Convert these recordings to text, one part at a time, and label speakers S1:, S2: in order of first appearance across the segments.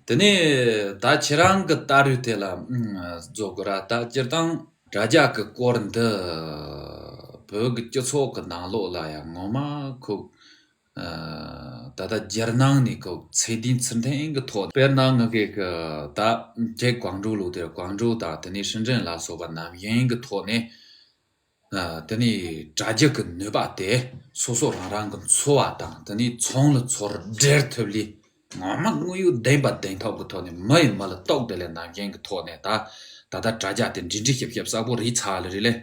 S1: དེ་ནས་ད་ཁྱེད་རང་གི་བལྟ་རུས་དེ་ལ་རྫོགས་དགོས་ར་ད་སྤྱིར་བཏང་དྲ་རྒྱ་གི་སྐོར་འདི་བོད་ཀྱི་སྤྱི་ཚོགས་ཀྱི་ནང་ལོགས་ལ་ཡང་ངོ་མ་ཁུག་ད་ལྟ་རྒྱལ་ནང་ནས་ཁུག་ཚད་དུས་ཚུན་ཐེངས་གི་ཐོག་དེ་བལྟར་གནང་ངེས་ཀྱི་ད་ཁྱེད་གང་འགྲོ་ལུགས་དེར་གང་འགྲོ་དང་དེ་ནས་ཧྲིན་ཀྲེན་ལ་སོགས་པ་ནམ་ཡིན་གི་ཐོག་ནས། དེ་ནི་དྲ་རྒྱ་གི་ནུས་པ་དེ་སོ་སོ་རང་རང་གི་འཚོ་བ་དང་དེ་ནི་ཚོང་ལ་ཚོར་འབྲེལ་ཐུབ་ལས་ངོ་མ་དངོས་ཡོད་བདེན་པ་བདེན་ཐོབ་ཀྱི་ཐོག་ནས་མི་ཡི་མི་ལ་གཏོགས་དེ་ལས་ནང་རྐྱེན་གྱི་ཐོག་ནས་ད་ད་ལྟ་དྲ་རྒྱ་དེ་འབྲི་འབྲི་ཤེབ་ཤེབ་གསལ་པོ་རིས་ཚར་ལ་རིས་ལས།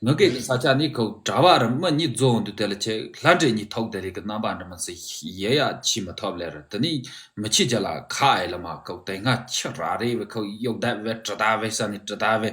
S1: ངུ་སྐད་ཀྱི་ས་ཆ་ནི་ཁོ་དྲ་བ་རུ་མི་གཉིས་རྫོགས་འདུག་དེ་ལ་ཁྱེད་ལྷ་འདྲེ་གཉིས་ཐོགས་དེ་རིགས་ཀྱི་རྣམ་
S2: པ་འདྲི་མི་སྲིད་ཡེ་ཡ་ཕྱིས་མི་ཐོབ་ལེར་དེ་ནི་མི་ཁྱི་རྒྱ་ལ་ཁ་ཨེ་ལ་མ་ཁོ་དེ་སྔ་ཁྱི་ར་རེ་བས་ཁོ་གཡོག་བདའ་བས་གྲི་བདའ་བས་ས་ནི་གྲི་བདའ་བས་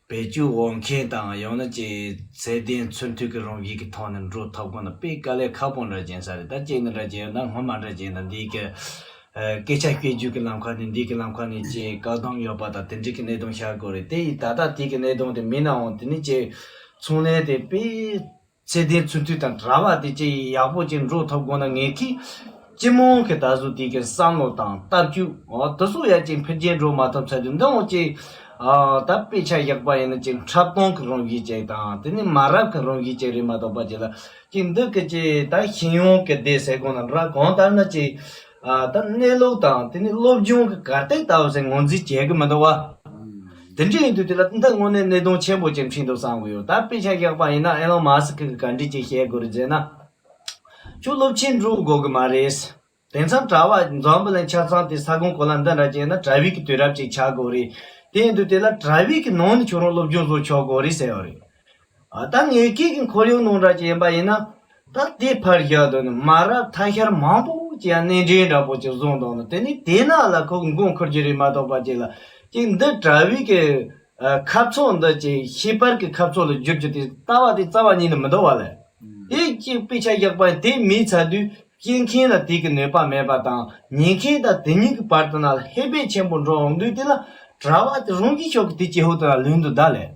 S1: བེད་སྤྱོད་འོག་མཁན་དང་ཡང་
S2: ན་ཀྱི་ཚད་ལྡན་ཚུལ་མཐུན་གྱི་རང་བཞིན་གྱི་ཐོག་ནས་འགྲོ་ཐབས་གོང་ན་དཔེ་དཀའ་ལས་ཁག་པོ་འདྲ་བྱིན་ས་རེད་ད་ཁྱེད་ནི་འདྲ་བྱེད་ཡོད་ན་ངོ་མ་འདྲ་བྱེད་ཡོད་ན་འདིའི་སྐད་སྐད་ཆ་སྐད་བརྗོད་ཀྱི་ལམ་ཁ་ནས་འདི་གི་ལམ་ཁ་ནས་ཅེས་བཀག་སྡོམ་ཡོད་པ་དང་དེ་འབྲེལ་གྱི་གནད་དོན་ཤར་དགོས་རེད་དེ་ཡིས་ད་ལྟ་དེ་གི་གནད་དོན་དེ་མིན་ནའང་དེ་ནི་ཀྱི་ཚོང་ལས་དེ་དཔེ་ཚེ་འདིའི་ཚུར་མཐུད་དང་གྲྭ་བ་དེ་བཅས་ཡག་པོ་གཅིག་འགྲོ་ཐུབ་དགོས་ན་ངེད་ཀྱིས་སྤྱི་དམངས་ཀྱི་ད་གཟོད་དེ་གའི་བསམ་བློ་དང་ལྟ་སྤྱོད་འོག་དུ་སྲོག་ཡ་གཅིག་འཕེལ་རྒྱས་འགྲོ་མ་ཐུབ་ཚ་དུས་འདི་འོག་ཅིག་ད་དཔེ་ཆ་བཞག་པ་ཡིན་ན་ཅིག་འཁྲབ་སྟོང་གི་རང་བཞིན་ཅིག་དང་དེ་ནས་མ་རབས་ཀྱི་རང་བཞིན་ཅིག་རེད་མ་གཏོགས་པ་ཅིག་ལ་ཅིག་འདི་གི་ཅིག་ད་ཤེས་ཡོན་གྱི་སྡེ་ཟེར་དགོས་ན་ར་གང་ལྟར་ན་ཅིག་ད་གནས་ལུགས་དང་དེ་ནས་སློབ་སྦྱོང་གི་གར་སྟེགས་ལྟ་བུ་ཟེར་ངོས་འཛིན་བྱེད་ཀྱི་མི་འདུག་བ། དེ་འདྲ་ཡིན་དུས་དེ་ལ་ཏུན་ཏཱ་དངོས་གནས་གནད་དོན་ཆེན་པོ་ཅིག་འཕྲིན་དུ་བསམ་གི་ཡོད་ད་དཔེ་ཆ་ཞག་པ་ཡིན་ན་ཨེ་ལོན་མཱ་སི་ཁི་གི་ག་འགྲིག་ཅིག་བཤད་དགོས་རེད་ཟེར་ན། ཁྱོད་སློབ་ཆེན་འགྲོ་དགོས་གི་མ་རེད། དེ་མཚམས་གྲྭ་བ་འཛམ་བུ་ལན་ཆ་ཚང་དེ་ས་གོང་གོ་ལ་འདི་འདྲ་བྱས་ན་གྲྭ་བྷིག་གི་དུས་རབས་ཅིག་ཆགས་དགོས་རེད། དེ་ཡིན་དུས་དེ་ལ་གྲྭ་བྷིག་གི་ནང་ནས་ཁྱོད་རང་སློབ་སྦྱོང་བཟོ་ཆོག་དགོས་རེད་ཟེར་ཡོད་རེད། ད་ངའི་སྐད་ཀྱི་འཁོར་ཡུག་ནང་འདྲ་ཅན་པ་ཡིན་ན། ད་དེ་ཕར་བཞག་དུས་ནས་མ་རབས་ཐ་ཤལ་མང་པོ་ཅི་ཡང་སྣེ་འདྲེན་འདྲ་པོ་ཅིག་བཟུང་འདུག་ན་དེ་ནས་དེ་ན་ལ་ཁོ་མགོ་འཁོར་གྱི་རེད་མ་གཏོགས་པ་ཅིག་ལ་ཅིག་འདི་དྲ་བའི་གི་ཁབ་ཚོགས་འདི་ཅིག་ཤེས་པར་གི་ཁབ་ཚོགས་ལ་བསྒྱུར་རྒྱུ་དེ་ལྟ་བ་དེ་རྩ་བ་ཉིད་ནས་མི་འདོར་བ་ལས། དེ་ཅིག་དཔེ་ཆ་བཞག་པ་ཡིན་དེ་མིན་ཚ་དུས་སྐྱེལ་མཁན་ལ་དེ་གི་ནུས་པ་མེད་པ་དང་ཉན་མཁན་དང་དེ་གཉིས་ཀྱི་བར་དུ་ན་ལ་ཧེ་བག་ཆེན་པོ་འགྲོ་འོང་དུས་དེ་ལ་དྲ་བ་དེ་རང་གི་ཕྱོགས་ཀྱི་དེ་ཅི་ཧུད་དུ་ན་ལུས་འདུག་ད་ལས།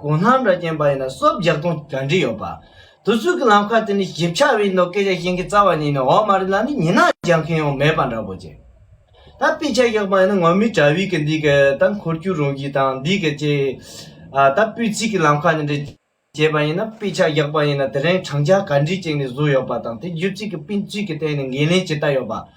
S2: གོང་ལྷ་འདྲ་བརྒྱན་པ་ཡིན་ན་སོབ་རྒྱག་དོན་ག་འདྲི་ཡོད་པ། དུས་ཚོད་ཀྱི་ལམ་ཁ་དེ་ནི་ཞིབ་ཆ་བའི་ནོ་སྐད་ཆ་གཞན་གྱི་རྩ་བ་ཉིད་ནི་འོག་མ་རི་ལ་ནི་ཉི་ནག་རྒྱག་མཁན་ཡང་མེད་པ་འདྲ་པོ་རེད། ད་དཔེ་ཆ་གཞག་པ་ཡིན་ན་ངོ་མི་དྲ་བའི་གི་འདི་གི་ད་འཁོར་རྒྱུག་རུང་གི་དང་འདི་གི་ཅེས། ད་སྤུས་ཚིག་གི་ལམ་ཁ་ནི་འདྲི་བྱེད་པ་ཡིན་ན་དཔེ་ཆ་གཞག་པ་ཡིན་ན་དེ་རིང་དྲང་བཞག་ག་འདྲི་ཅིག་ནི་བཟོ་ཡོད་པ་དང་དེ་བརྒྱུད་ཚིག་གི་སྤུས་ཚིག་གི་ཐད་ནས་འགན་ལེན་ཇི་ལྟ་ཡོད་པ།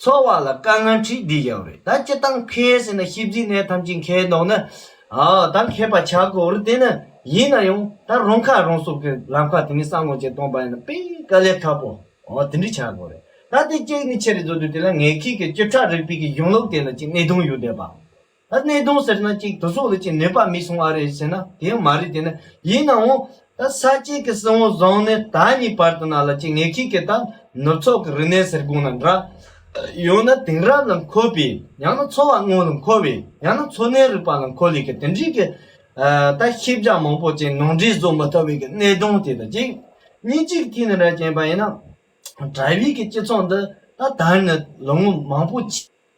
S2: ཚོགས་བར་ལ་དཀའ་ངལ་འཕྲིག་འདི་ཡག་རེད་ད་སྤྱི་སྟངས་མཁས་ཟེར་ན་ཤེས་རྫིག་ནས་ཐམས་ཅད་མཁས་མདོག་ནི་ད་མཁས་པ་ཆགས་དགོས་རེད་དེ་ནི་ཡིན་ན་ཡང་ད་རང་ཁ་རང་གསོ་མཁན་ལམ་ཁ་དེ་ནས་སང་ལོ་ཅན་སྟོང་པ་ཡིན་ན་དཔེ་དཀའ་ལས་ཐབས་པོ་དེ་འདྲ་ཆགས་དགོས་རེད་ད་དེ་གཅིག་ནས་ཆེ་རེད་བཟོ་དུས་དེ་ལ་ངས་ཁྱེད་ཀྱི་བཅུ་ཕྲག་རིག་པའི་གཞུང་ལུགས་དེ་ལ་ཅིག་གནད་དོན་ཡོད་བསྡད་པ་ད་གནས་སྟངས་ཟེར་ན་གཅིག་དུ་སོག་ལེ་ཅིག་ནོས་པ་མི་སོང་ཨ་རེད་ཟེར་ན་དེ་ཡང་མ་རེད་དེ་ན་ཡིན་ནའང་ད་ས་གཅིག་གི་སྲིད་དབང་བཟང་ནས་ད་གཉིས་བར་དུ་ན་ལ་གཅིག་ངེད་གཅིག་གི་ད་ནུབ་ཚོགས་ཀྱི་རི་གནས་ཟེར་དགོངས་ན་འདྲ། ཡང་ན་དེང་རབས་ལ་མཁོ་བའི་ཡང་ན་འཚོ་བ་དངོས་ལ་མཁོ་བའི་ཡང་ན་འཚོ་གནས་རིག་པ་ལ་མཁོ་ལེ་གི་དེ་འདྲིས་གི་ད་ཤེས་བྱ་མང་པོ་ཅན་ནང་འདྲེས་བཟོ་མི་ཐུབ་བའི་གི་གནས་སྟངས་དེ་དང་གཅིག། གཉིས་གཅིག་ཐིག་ནི་ར་ཅན་པ་ཡིན་ན་དྲ་བའི་གི་སྤྱི་ཚོགས་འདི་ད་དར་ནས་ལོ་ངོ་མང་པོ།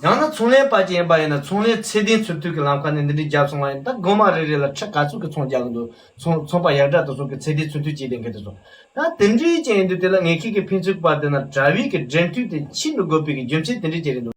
S2: ཡང་ན་ཚོང་ལས་པ་ཅིག་ཡིན་པ་ཡིན་ན་ཚོང་ལས་ཚད་ལྡན་ཚུར་མཐུད་ཀྱི་ལམ་ཁ་ནས་འདི་འདྲའི་རྒྱབ་སོང་བ་ཡིན་ད་སྒོ་མ་རེ་རེ་ལ་ཁྲི་ག་ཚོད་ཀྱི་ཚོང་རྒྱག་གི་འདུག་ཚོང་ཚོང་པ་ཡག་དྲག་ཏུ་བཟོ་གི་ཚད་ལྡན་ཚུར་མཐུད་བྱས་ཏེ་འགན་དེ་བཟོ། ད་དེ་འདྲའི་ཅན་ཡིན་འདུག་དེ་ལ་ངས་ཁྱེད་ཀྱི་ཕན་ཚུན་བར་དེ་ན་དྲ་བའི་གི་འབྲེལ་མཐུད་དེ་ཕྱིར་མི་དགོས་པའི་གི་རྒྱུ་མཚན་དེ་འདྲའི་ཅན་རེད་འདུག།